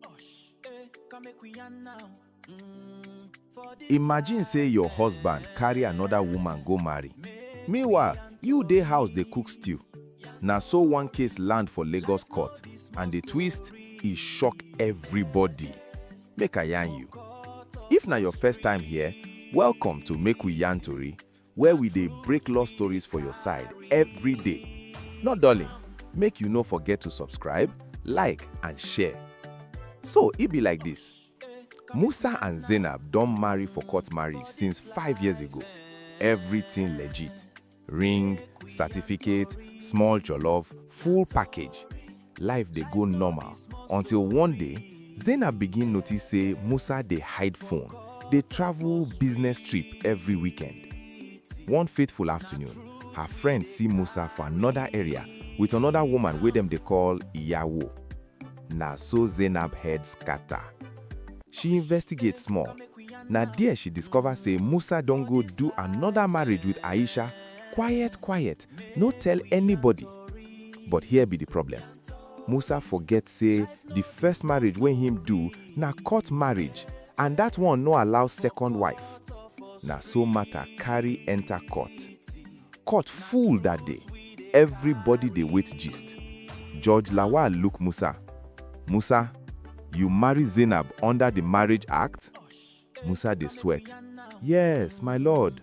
Osh, eh, come make we yarn now. Mm, for this Imagine life, say your eh, husband carry another woman go marry. make Meanwhile, you dey house dey cook stew. Na so one case land for Lagos court and the twist e shock everybody. Make I yarn you. If na your first time here, welcome to Make We Yarn Tori. where we dey break law stories for your side every day. No dulling, make you no forget to subscribe, like and share. So e be like this, Musa and Zainab don marry for court marriage since five years ago. Everything legit, ring, certificate, small jollof, full package. Life dey go normal until one day, Zainab begin notice say Musa dey hide phone, dey travel business trip every weekend. One fateful afternoon, her friend see Musa for another area with another woman wey dem dey call Iyawo. Na so Zainab head scatter. She investigate small, na there she discover say Musa don go do another marriage with Aisha quiet quiet, no tell anybody. But here be di problem, Musa forget say di first marriage wey him do na court marriage and dat one no allow second wife. Na so matter carry enter court. Court full dat day, everybody dey wait gist. Judge Lawal look Musa, Musa, you marry Zainab under di marriage act? Musa dey sweat, Yes, my lord.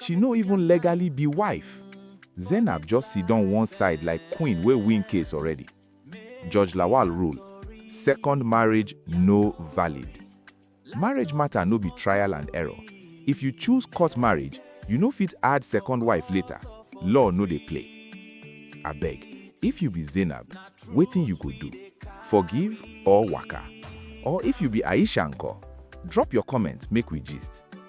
She no even legally be wife. Zainab just sidon one side like queen wey win case already. Judge Lawal rule, Second marriage no valid. Marriage matter no be trial and error. If you choose court marriage, you no fit add second wife later. Law no dey play. Abeg, if you be Zainab, wetin you go do? Forgive or waka? Or if you be Aisha nko? Drop your comment make we gist.